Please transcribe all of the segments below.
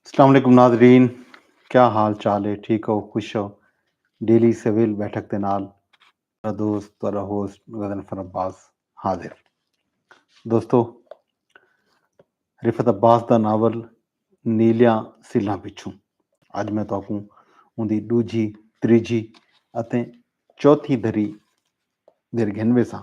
السلام علیکم ناظرین کیا حال چال ہے ٹھیک ہو خوش ہو ڈیلی سویل بیٹھک دے نال تیرا دوست تیرا ہوسٹ غزن فر عباس حاضر دوستو رفت عباس دا ناول نیلیاں سلاں پچھوں اج میں تاکوں ان دی دوجھی تریجھی اتے چوتھی دھری دیر گھن ویساں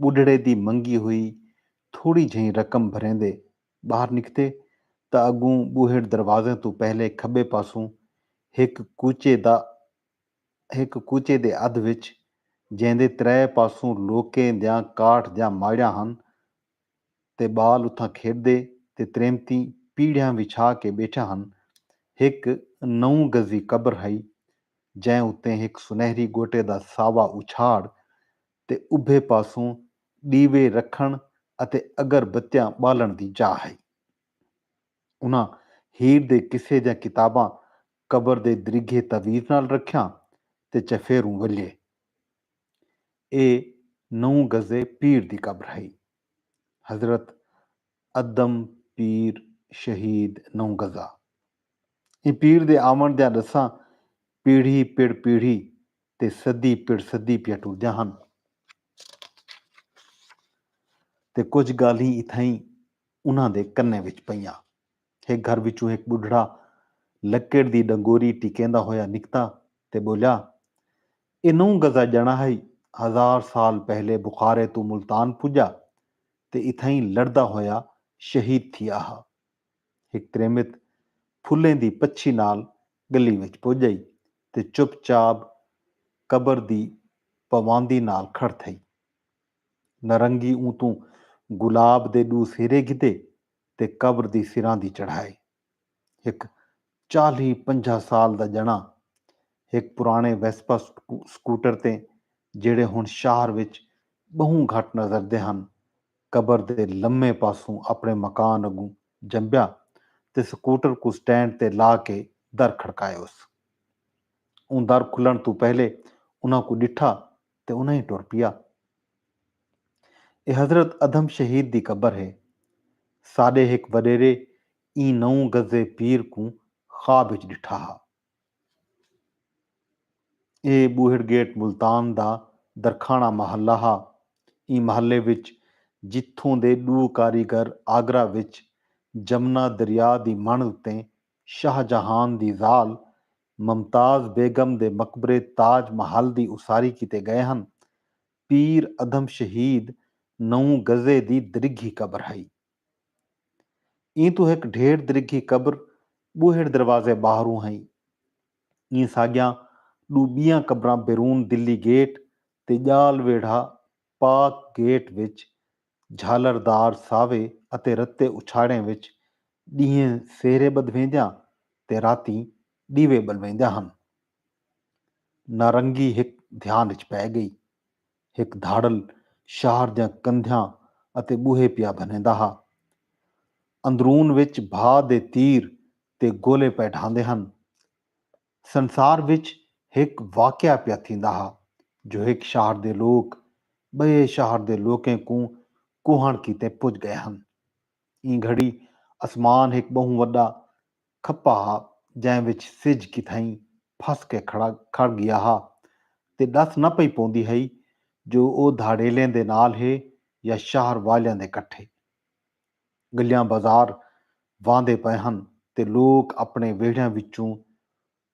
ٻڈھڑے دی منگی ہوئی تھوڑی جھئیں رقم بھریندے ٻاہر نکتے تاں اڳوں ٻوہڑ دروازیں توں پہلے کھٻے پاسوں ہک کوچے دا ہک کوچے دے ادھ وچ جیندے ترے پاسوں لوکیں دیاں کاٹھ دیاں ماڑیاں ہن تے ٻال اتھاں کھیݙدے تے تریمتیں پیڑھیاں وچھا کے ٻیٹھے ہن ہک نو گزی قبر ہئی جئیں اتے ہک سنہری ڳوٹے دا ساوا اچھاڑ تے ابھے پاسوں ݙیوے رکھݨ اتے اگر بتیاں ٻالݨ دی جاہ ہئی۔ انہاں ہیر دے قصے دیاں کتاباں قبر دے دریگھے تعویذ نال رکھیاں تے چفیروں ولھیے۔ ایہ نوں گزے پیر دی قبر ہئی۔ حضرت ادم پیر شہید نوں گزا۔ ایں پیر دے آوݨ دیاں ݙساں پیڑھی پڑ پیڑھی تے سدھی پڑ سدھی پیا ٹردیاں ہن تے کجھ گالھیں اتھائیں انہاں دے کنیں وچ پئیاں۔ ہک گھر وچوں ہک ٻڈھڑا لکڑ دی ݙنگوری ٹکیندا ہویا نکتا تے ٻولیا اے نو گزا ڄݨا ہئی ہزار سال پہلے بخارے توں ملتان پڄا تے اتھائیں لڑدا ہویا شہید تھیا ہا۔ ہک تریمت پھلیں دی پچھی نال گلی وچ پج آئی تے چپ چاب قبر دی پواندی نال کھڑ تھئی۔ نرنگی اوں توں گلاب دے ڈو سیرے گھدے تے قبر دی سراندی چڑھائے۔ ہک چالیہہ پنجاہ سال دا ڄݨاں ہک پراݨے ویسپا سکوٹر تے جیڑھے ہݨ شہر وچ ٻہوں گھٹ نظردے ہن قبر دے لمے پاسوں اپݨے مکان اڳوں جنبیا تے سکوٹر کوں سٹینڈ تے لا کے در کھڑکایوس۔ اوں در کھلݨ توں پہلے انہاں کوں ݙٹھا تے انہاں ہی ٹر پیا۔ اے حضرت ادھم شہید دی قبر ہے۔ ساݙے ہک وݙیرے ایں نو گزے پیر کوں خواب اچ ڈٹھا ہا۔ اے بوہڑ گیٹ ملتان دا درکھاݨہ محلہ ہا۔ ایں محلے وچ جتھوں دے ݙو کاریگر آگرہ وچ جمنا دریا دی مݨ اتے شاہ جہان دی ذال ممتاز بیگم دے مقبرے تاج محل دی اساری کیتے ڳئے ہن، پیر ادھم شہید نو گزے دی درگھی قبر ہئی۔ ایں توں ہک ڈھیر درگھی قبر ٻوہڑ دروازے ٻاہروں ہئی۔ ایں ساڳیاں ݙو ٻیاں قبراں بیرون دلی گیٹ تے ڄال ویڑھا پاک گیٹ وچ جھالر دار ساوے اتے رتے اچھاڑیں وچ ݙینہہ سہرے ٻدھویندیاں تے راتیں ݙیوے ٻلویندیاں ہن۔ نارنگی ہک دھیان اچ پئے ڳئی۔ ہک دھاڑل شاہر دیاں کندھیاں اتے ٻوہے پیا بھنیندا ہا۔ اندرون وچ بھا دے تیر تے گولے پئے ڈھاندے ہن۔ سنسار وچ ہک واقعہ پیا تھیندا ہا جو ہک شاہر دے لوک ٻئے شاہر دے لوکیں کوں کوہݨ کیتے پڄ ڳئے ہن۔ ایں گھڑی اسمان ہک ٻہوں وݙا کھپا ہا جئیں وچ سجھ کتھائیں پھس کے کھڑا کھڑ گیا ہا تے ڈس نہ پئی پوندی ہئی جو او دھاڑیلیں دے نال ہے یا شہر والیاں دے کٹھے۔ گلیاں بازار واندے پئے ہن تے لوک اپنے ویڑھیاں وچوں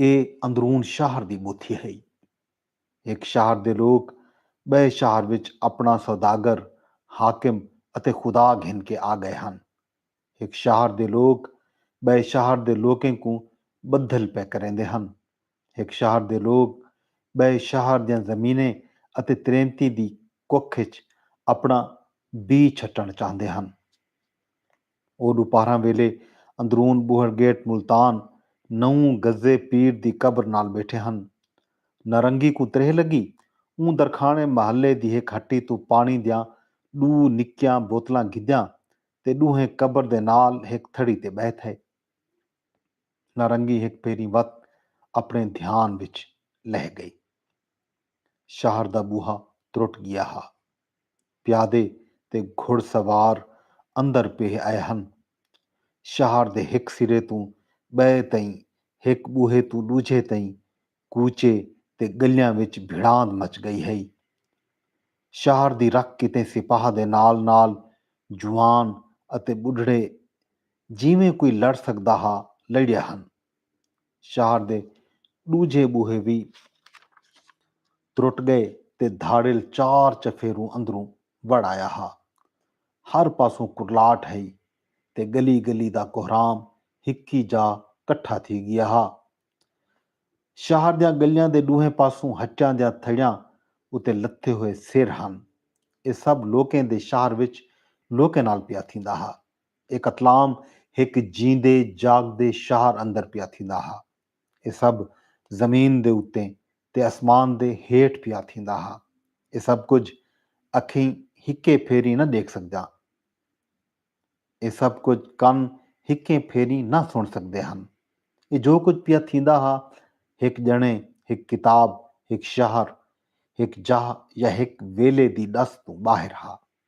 اے اندرون شہر دی ٻوتھی ہئی۔ ہک شہر دے لوک ٻئے شہر وچ اپݨا سوداگر، حاکم اتے خدا گھن کے آ ڳئے ہن۔ ہک شہر دے لوک ٻئے شہر دے لوکیں کوں ٻدھل پئے کریندے ہن۔ ہک شہر دے لوک ٻئے شہر دیاں زمینیں اتے تریمتیں دی ککھ اچ اپݨا بی چھٹݨ چاہندے ہن۔ او ݙوپہراں ویلے اندرون ٻوہڑ گیٹ ملتان نووں گزے پیر دی قبر نال ٻیٹھے ہن۔ نارنگی کوں تریہہ لڳی۔ اوں درکھاݨے محلے دی ہک ہٹی توں پاݨی دیاں ݙو نکیاں بوتلاں گھدیاں تے ݙوہیں قبر دے نال ہک تھڑی تے ٻہہ تھئے۔ نارنگی ہک بھیری وت اپݨے دھیان وچ لہہ ڳئی۔ شہر دا ٻوہا ترٹ ڳیا ہا۔ پیادے تے گھڑ سوار اندر پیہہ آئے ہن۔ شہر دے ہک سرے توں ٻئے تئیں، ہک ٻوہے توں ݙوجھے تئیں کوچے تے ڳلیاں وچ بھڑاند مچ ڳئی ہئی۔ شہر دی رکھ کیتے سپاہ دے نال نال جوان اتے ٻڈھڑے جیویں کوئی لڑ سڳدا ہا، لڑیا ہن۔ شہر دے ݙوجھے ٻوہے وی ترٹ ڳئے تے دھاڑیل چار چفیروں اندروں وڑ آیا ہا۔ ہر پاسوں کرلاٹ ہئی تے ڳلی ڳلی دا کہرام ہکی جاء کٹھا تھی ڳیا ہا۔ شہر دیاں ڳلیاں دے ݙوہیں پاسوں ہٹیاں دیاں تھڑیاں اتے لتھے ہوئے سر ہن۔ اے سب لوکیں دے شہر وچ لوکیں نال پیا تھیندا ہا۔ اے قتلام ہک جیندے جاگدے شہر اندر پیا تھیندا ہا۔ اے سب زمین دے اتے تے اسمان دے ہیٹھ پیا تھیندا ہا۔ اے سب کجھ اکھیں ہکے پھیریں نہ ڈیکھ سگدیاں۔ اے سب کجھ کن ہکیں پھیریں نہ سن سگدے ہن۔ اے جو کجھ پیا تھیندا ہا ہک جنے، ہک کتاب، ہک شہر، ہک جاہ یا ہک ویلے دی ڈس توں باہر ہا۔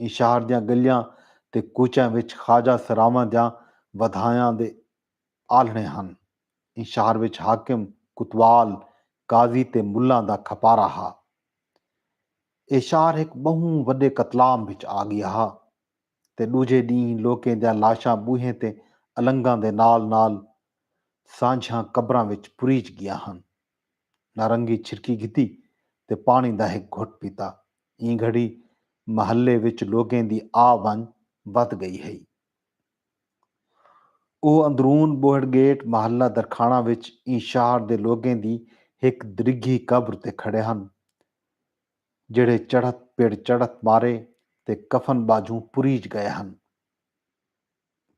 ایں شہر دیاں ڳلیاں تے کوچیاں وچ خواجہ سراواں دیاں ودھایاں دے آلھݨے ہن۔ ایں شہر وچ حاکم، کوتوال، قاضی تے ملاں دا کھپارا ہا۔ اے شہر ہک ٻہوں وݙے قتلام وچ آ ڳیا ہا تے ݙوجھے ݙینہہ لوکیں دیاں لاشاں ٻوہیں تے النگاں دے نال نال سانجھیاں قبراں وچ پریچ ڳیاں ہن۔ نارنگی چھرکی گھدی تے پاݨی دا ہک گھٹ پیتا۔ ایں گھڑی محلے وچ لوگیں دی آ ونڄ ودھ ڳئی ہئی۔ او اندرون ٻوہڑ گیٹ محلہ درکھاݨہ وچ ایں شہر دے لوگیں دی ہک درگھی قبر تے کھڑے ہن جیڑھے چڑھت پڑ چڑھت مارے تے کفن ٻاجھوں پریج ڳئے ہن۔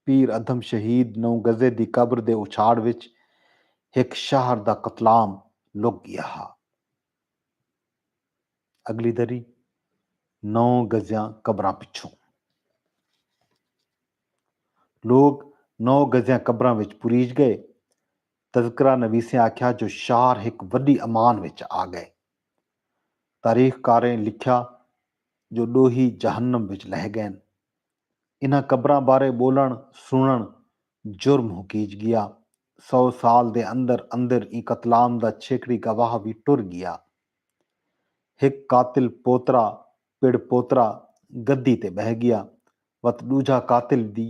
پیر ادھم شہید نو گزے دی قبر دے اچھاڑ وچ ہک شاہر دا قتلام لک گیا ہا۔ اگلی دری نو گزیاں قبراں پچھوں لوک نو گزیاں قبراں وچ پریج گئے۔ تذکرہ نویسیں آکھیا جو شاہر ہک وڈی امان وچ آ گئے۔ تاریخ کاریں لکھیا جو ڈوہی جہنم وچ لہہ گئن۔ انہاں قبراں بارے ٻولݨ سݨݨ جرم ہکیج ڳیا۔ سو سال دے اندر اندر ایں قتلام دا چھیکڑی گواہ وی ٹر ڳیا۔ ہک قاتل پوترا پڑ پوترا گدی تے ٻہہ ڳیا وت ݙوجھا قاتل وی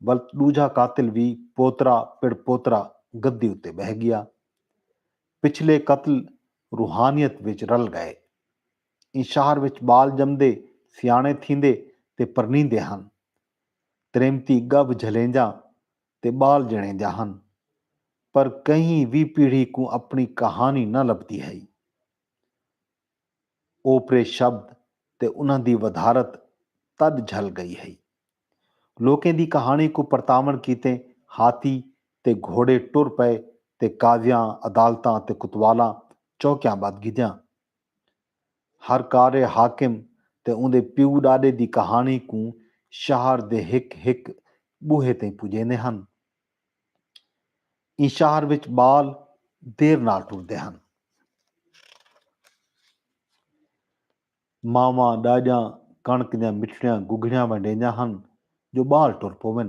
ولت ݙوجھا قاتل وی پوترا پڑ پوترا گدی اتے ٻہہ ڳیا۔ پچھلے قتل روحانیت وچ رل ڳئے۔ ایں شہر وچ ٻال ڄمدے، سیاݨے تھیندے تے پرنیندے ہن۔ تریمتی ڳبھ جھلینجاں تے ٻال ڄݨینجاں ہن۔ پر کہیں وی پیڑھی کوں اپݨی کہاݨی نہ لبھدی ہئی۔ اوپرے شبد تے انہاں دی ودھارت تݙ جھل ڳئی ہئی۔ لوکیں دی کہاݨی کوں پرتاوݨ کیتے ہاتھی تے گھوڑے ٹر پئے تے قاضیاں، عدالتاں تے کوتوالاں چوکیاں ٻدھ گھدیاں۔ ہر کار حاکم تے اوندے پیو ݙاݙے دی کہاݨی کوں شہر دے ہک ہک ٻوہے تئیں پڄیندے ہن۔ ایں شہر وچ ٻال دیر نال ٹردے ہن۔ ماواں ݙاݙیاں کݨک دیاں مٹھڑیاں گگھڑیاں ونڈیندیاں ہن جو ٻال ٹر پوون۔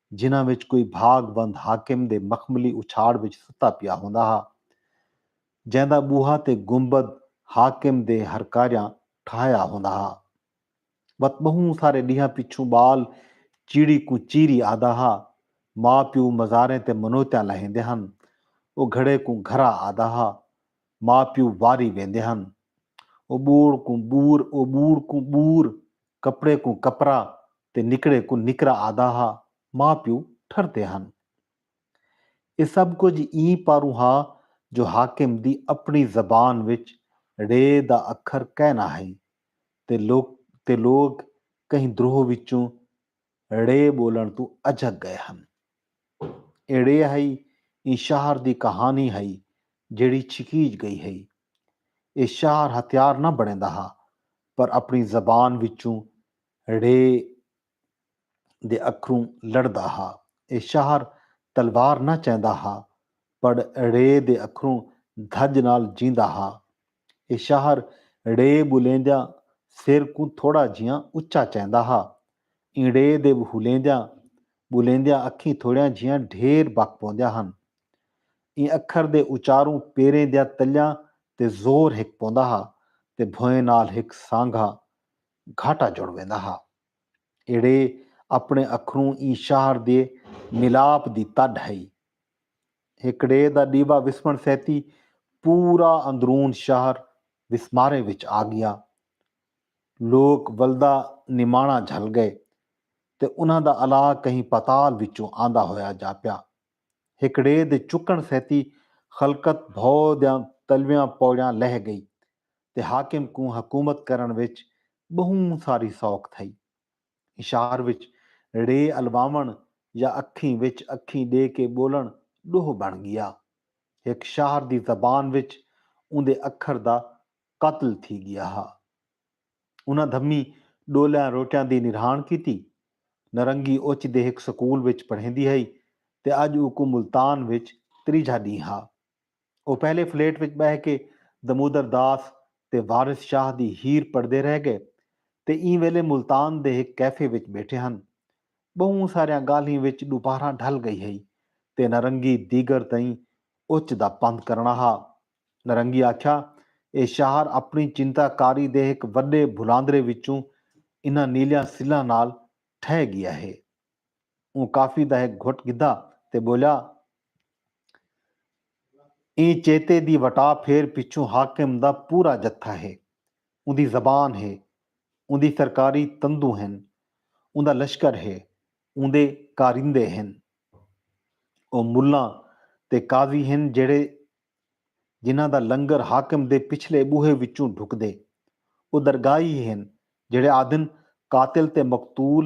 جنہاں وچ کوئی بھاگ بند حاکم دے مخملی اچھاڑ وچ ستا پیا ہوندا ہا۔ جیندا بوہا تے گنبد حاکم دے ہرکاریاں ٹھاہیا ہوندا ہا۔ وت ٻہوں سارے ݙینہاں پچھوں ٻال چیڑی کوں چیری آہدا ہا۔ ماء پیو مزاریں تے منوتیاں لہیندے ہن۔ او گھڑے کوں گھرا آہدا ہا۔ ماء پیو واری ویندے ہن۔ او ٻوڑ کوں ٻور او ٻوڑ کوں ٻور کپڑے کوں کپرا تے نکڑے کوں نکرا آہدا ہا، ماء پیو ٹھردے ہن۔ ایہ سب کجھ ایں پاروں ہا جو حاکم دی اپݨی زبان وچ ڑ دا اکھر کائنا ہئی تے لوک تے لوک کہیں دروہ وچوں ڑے ٻولݨ توں اجھک ڳئے ہن۔ اے ڑے ہئی ایں شہر دی کہاݨی ہئی جیڑھی چھکیج ڳئی ہئی۔ اے شہر ہتھیار نہ بݨیندا ہا پر اپݨی زبان وچوں ڑے دے اکھروں لڑدا ہا۔ اے شہر تلوار نہ چیندا ہا پڑ ڑے دے اکھروں دھڄ نال جیندا ہا۔ ایہ شاہر ڑے ٻولیندیاں سر کوں تھوڑا جھیاں اچا چیندا ہا۔ ایں ڑے دے ٻولیندیاں ٻولیندیاں اکھیں تھوڑیاں جھیاں ڈھیر بک پوندیاں ہن۔ ایں اکھر دے اچاروں پیریں دیاں تلیاں تے زور ہک پوندا ہا تے بھوئیں نال ہک سانگھا گھاٹا جڑ ویندا ہا۔ ایہ ڑے اپݨے اکھروں ایں شاہر دے ملاپ دی تݙ ہئی۔ ہکڑے دا ݙیوا وسمݨ سیتی پورا اندرون شہر وسمارے وچ آ ڳیا۔ لوک ولدا نماݨا جھل ڳئے تے انہاں دا الا کہیں پاتال وچوں آندا ہویا جاپیا۔ ہکڑے دے چکݨ سیتی خلقت بھو دیاں تلویاں پوڑیاں لہہ ڳئی تے حاکم کوں حکومت کرݨ وچ ٻہوں ساری سوکھ تھئی۔ اشار وچ ڑے الواوݨ یا اکھیں وچ اکھیں ݙے کے ٻولݨ ݙوہ بݨ ڳیا۔ ہک شاہر دی زبان وچ اوندے اکھر دا قتل تھی ڳیا ہا۔ انہاں دھمیں ݙولیاں روٹیاں دی نرہاݨ کیتی۔ نرنگی اوچ دے ہک سکول وچ پڑھیندی ہئی تے اڄ اوکوں ملتان وچ تریجھا ݙینہہ ہا۔ او پہلے فلیٹ وچ ٻہہ کے دمودر داس تے وارث شاہ دی ہیر پڑھدے رہ ڳئے تے ایں ویلے ملتان دے ہک کیفے وچ ٻیٹھے ہن۔ ٻہوں ساریاں ڳالھیں وچ ݙوپہراں ڈھل ڳئی ہئی تے نرنگی دیگر تئیں اچ دا پندھ کرݨا ہا۔ نرنگی آکھیا اے شاہر اپݨی چنتا کاری دے ہک وݙے بھلاندرے وچوں انہاں نیلیاں سلاں نال ٹھہہ ڳیا ہے۔ اوں کافی دا ہک گھٹ گھدا تے ٻولیا۔ ایں چیتے دی وٹا پھیر پچھوں حاکم دا پورا جتھا ہے۔ اوندی زبان ہے۔ اوندی سرکاری تندوں ہن۔ اوندا لشکر ہے۔ اوندے کارندے ہن۔ او ملاں تے قاضی ہن جیڑھے جنہاں دا لنگر حاکم دے پچھلے ٻوہے وچوں ڈھکدے۔ او درگاہی ہن جیڑھے آہدن قاتل تے مقتول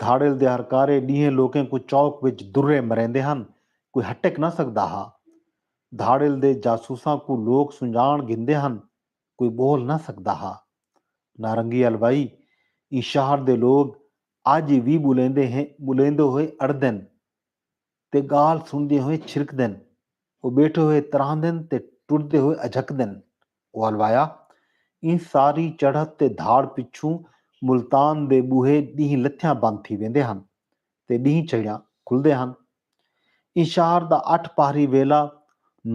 دھاڑیل دے ہرکارے ݙینہہ لوکیں کوں چوک وچ درے مریندے ہن، کوئی ہٹک نہ سڳدا ہا۔ دھاڑیل دے جاسوساں کوں لوک سنڄاݨ گھندے ہن، کوئی ٻول نہ سڳدا ہا۔ نارنگی الوائی ایں شہر دے لوک اڄ وی ٻولیندے ہیں ٻولیندے ہوئے اڑدن۔ تے ڳالھ سݨدیں ہوئیں چھرکدن، او ٻیٹھے ہوئے تراہندن تے ٹردے ہوئے اجھکدن۔ او الوایا، ایں ساری چڑھت تے دھاڑ پچھوں ملتان دے ٻوہے ݙینہہ لتھیاں بند تھی ویندے ہن تے ݙینہہ چھڑیاں کھلدے ہن۔ ایں شہر دا اٹھ پہری ویلا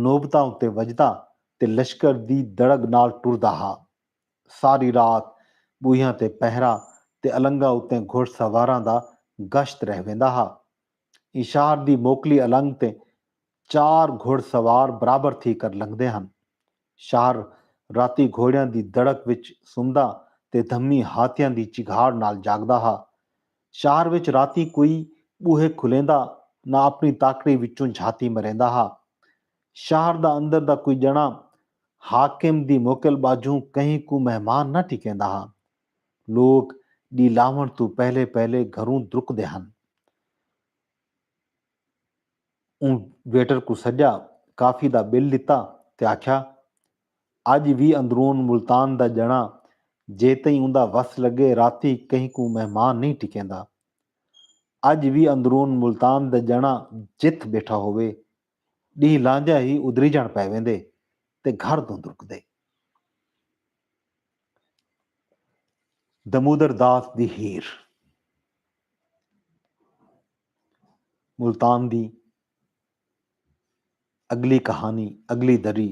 نوبتاں اتے وڄدا تے لشکر دی دڑڳ نال ٹردا ہا۔ ساری رات بوہیاں تے پہرہ تے النگاں اتیں گھڑ سواراں دا گشت رہ ویندا ہا۔ اینشار دی موکلی النگ تے چار گھڑ سوار برابر تھی کر لنگھدے ہن۔ شہر راتی گھوڑیاں دی دڑک وچ سمدا تے دھمی ہاتھیاں دی چگھاڑ نال جاگدا ہا۔ شہر وچ راتی کوئی بوہے کھلیندا نہ اپنی تاکڑی وچوں جھاتی مریندا ہا۔ شہر دا اندر دا کوئی ڄݨا حاکم دی موکل ٻاجھوں کہیں کوں مہمان نہ ٹھکیندا ہا۔ لوک ݙی لاہوݨ توں پہلے پہلے گھروں درکدے ہن۔ اوں ویٹر کوں سݙیا، کافی دا بل ݙتا تے آکھیا، اڄ وی اندرون ملتان دا ڄݨا جیتئیں اوندا وس لڳے راتی کہیں کوں مہمان نئیں ٹھکیندا۔ اڄ وی اندرون ملتان دا ڄݨا جتھ ٻیٹھا ہووے ݙینہہ لانجا ہی ادریجݨ پئے ویندے تے گھر دھند رکدے۔ دمودر داس دی ہیر۔ ملتان دی اڳلی کہانی اڳلی دری۔